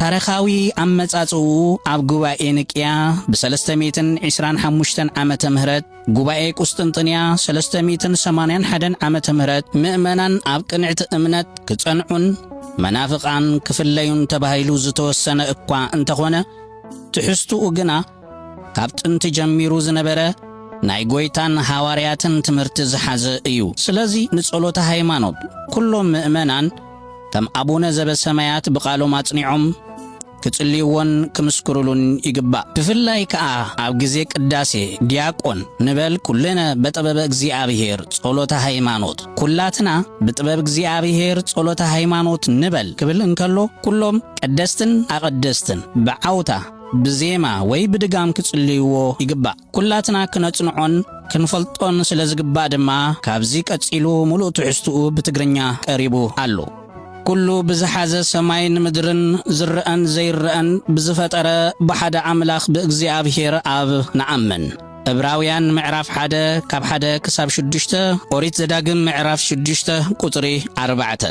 ታሪኻዊ ኣመጻጽእኡ ኣብ ጉባኤ ንቅያ ብ ሰለስተ ሚእትን ዒስራን ሓሙሽተን ዓመተ ምህረት ጉባኤ ቁስጥንጥንያ ሰለስተ ሚእትን ሰማንያን ሓደን ዓመተ ምህረት ምእመናን ኣብ ቅንዕቲ እምነት ክጸንዑን መናፍቓን ክፍለዩን ተባሂሉ ዝተወሰነ እኳ እንተኾነ ትሕዝትኡ ግና ካብ ጥንቲ ጀሚሩ ዝነበረ ናይ ጐይታን ሃዋርያትን ትምህርቲ ዝሓዘ እዩ። ስለዚ ንጸሎተ ሃይማኖት ኵሎም ምእመናን ከም ኣቡነ ዘበሰማያት ብቃሎም ኣጽኒዖም ክጽልይዎን ክምስክሩሉን ይግባእ። ብፍላይ ከኣ ኣብ ግዜ ቅዳሴ ዲያቆን ንበል ኩልነ በጥበበ እግዚኣብሔር ጸሎተ ሃይማኖት፣ ኩላትና ብጥበብ እግዚኣብሔር ጸሎተ ሃይማኖት ንበል ክብል እንከሎ ኩሎም ቀደስትን ኣቐደስትን ብዓውታ ብዜማ ወይ ብድጋም ክጽልይዎ ይግባእ። ኩላትና ክነጽንዖን ክንፈልጦን ስለ ዝግባእ ድማ ካብዚ ቀጺሉ ምሉእ ትሕዝትኡ ብትግርኛ ቀሪቡ ኣሎ። ኩሉ ብዝሓዘ ሰማይን ምድርን ዝረኣን ዘይረኣን ብዝፈጠረ ብሓደ ኣምላኽ ብእግዚኣብሔር ኣብ ንኣምን። ዕብራውያን ምዕራፍ ሓደ ካብ ሓደ ክሳብ ሽዱሽተ፣ ኦሪት ዘዳግም ምዕራፍ ሽዱሽተ ቁጽሪ ኣርባዕተ።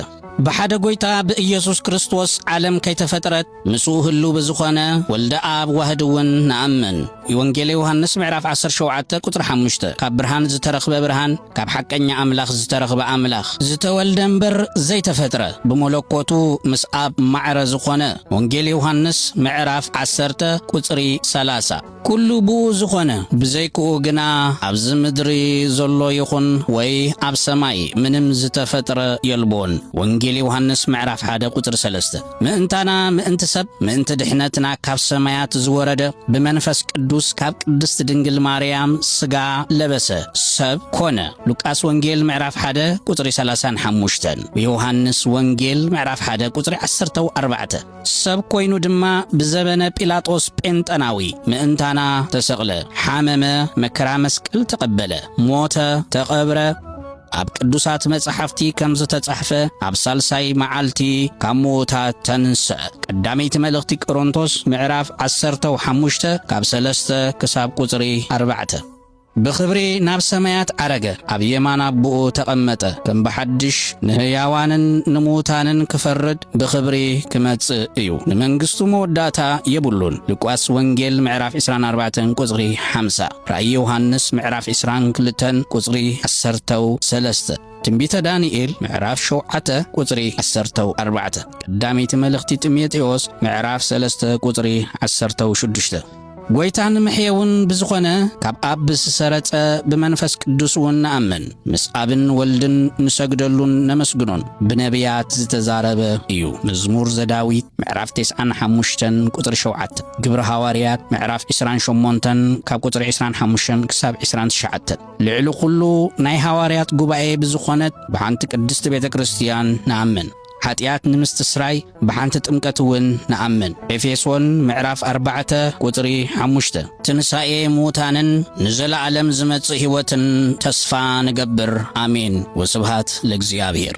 ብሓደ ጎይታ ብኢየሱስ ክርስቶስ ዓለም ከይተፈጥረት ምስኡ ህሉው ብዝኾነ ወልደ ኣብ ዋህድ እውን ንኣምን። ኢወንጌለ ዮሃንስ ምዕራፍ ዓሰርተ ሸውዓተ ቁጽሪ ሓሙሽተ ካብ ብርሃን ዝተረኽበ ብርሃን ካብ ሓቀኛ ኣምላኽ ዝተረኽበ ኣምላኽ ዝተወልደ እምበር ዘይተፈጥረ ብመለኮቱ ምስ ኣብ ማዕረ ዝኾነ ወንጌል ዮሃንስ ምዕራፍ ዓሰርተ ቁጽሪ ሰላሳ ኩሉ ብኡ ዝኾነ ብዘይክኡ ግና ኣብዚ ምድሪ ዘሎ ይኹን ወይ ኣብ ሰማይ ምንም ዝተፈጥረ የልቦን። ወንጌል ዮሃንስ ምዕራፍ ሓደ ቁጽሪ ሰለስተ ምእንታና ምእንቲ ሰብ ምእንቲ ድሕነትና ካብ ሰማያት ዝወረደ ብመንፈስ ቅዱስ ካብ ቅድስት ድንግል ማርያም ስጋ ለበሰ ሰብ ኮነ ሉቃስ ወንጌል ምዕራፍ ሓደ ቁጽሪ ሰላሳን ሓሙሽተን ዮሃንስ ወንጌል ምዕራፍ ሓደ ቁጽሪ ዓሰርተው ኣርባዕተ ሰብ ኮይኑ ድማ ብዘበነ ጲላጦስ ጴንጠናዊ ምእንታና ተሰቕለ፣ ሓመመ፣ መከራ መስቀል ተቐበለ፣ ሞተ፣ ተቐብረ፣ ኣብ ቅዱሳት መጻሕፍቲ ከም ዝተጻሕፈ ኣብ ሳልሳይ መዓልቲ ካብ ምዉታት ተንስአ። ቀዳመይቲ መልእኽቲ ቅሮንቶስ ምዕራፍ ዓሰርተው ሓሙሽተ ካብ ሰለስተ ክሳብ ቁጽሪ ኣርባዕተ። ብኽብሪ ናብ ሰማያት ዓረገ፣ ኣብ የማን ኣቦኡ ተቐመጠ፣ ከም ብሓድሽ ንህያዋንን ንምዉታንን ክፈርድ ብኽብሪ ክመጽእ እዩ፣ ንመንግስቱ መወዳእታ የብሉን ሉቃስ ወንጌል ምዕራፍ ዕስራን ኣርባዕተን ቁጽሪ ሓምሳ፣ ራእይ ዮሃንስ ምዕራፍ ዕስራን ክልተን ቁጽሪ ዓሰርተው ሰለስተ፣ ትንቢተ ዳንኤል ምዕራፍ ሸውዓተ ቁጽሪ ዓሰርተው ኣርባዕተ፣ ቀዳመይቲ መልእኽቲ ጢሞቴዎስ ምዕራፍ ሰለስተ ቁጽሪ ዓሰርተው ሽዱሽተ። ጐይታ ንምሕየውን ብዝኾነ ካብ ኣብ ዝሰረጸ ብመንፈስ ቅዱስውን ንኣምን፣ ምስ ኣብን ወልድን ንሰግደሉን ነመስግኖን ብነብያት ዝተዛረበ እዩ፣ መዝሙር ዘዳዊት ምዕራፍ ተስዓን ሓሙሽተን ቁጽሪ ሸውዓተ፣ ግብሪ ሃዋርያት ምዕራፍ ዕስራን ሸሞንተን ካብ ቁጽሪ ዕስራን ሓሙሽተን ክሳብ ዕስራን ትሽዓተን። ልዕሊ ኩሉ ናይ ሃዋርያት ጉባኤ ብዝኾነት ብሓንቲ ቅድስቲ ቤተ ክርስቲያን ንኣምን። ሓጢኣት ንምስትስራይ ብሓንቲ ጥምቀት እውን ንኣምን። ኤፌሶን ምዕራፍ ኣርባዕተ ቁጽሪ ሓሙሽተ። ትንሳኤ ምዉታንን ንዘለኣለም ዝመጽእ ሕይወትን ተስፋ ንገብር። ኣሜን ወስብሃት ለእግዚኣብሔር።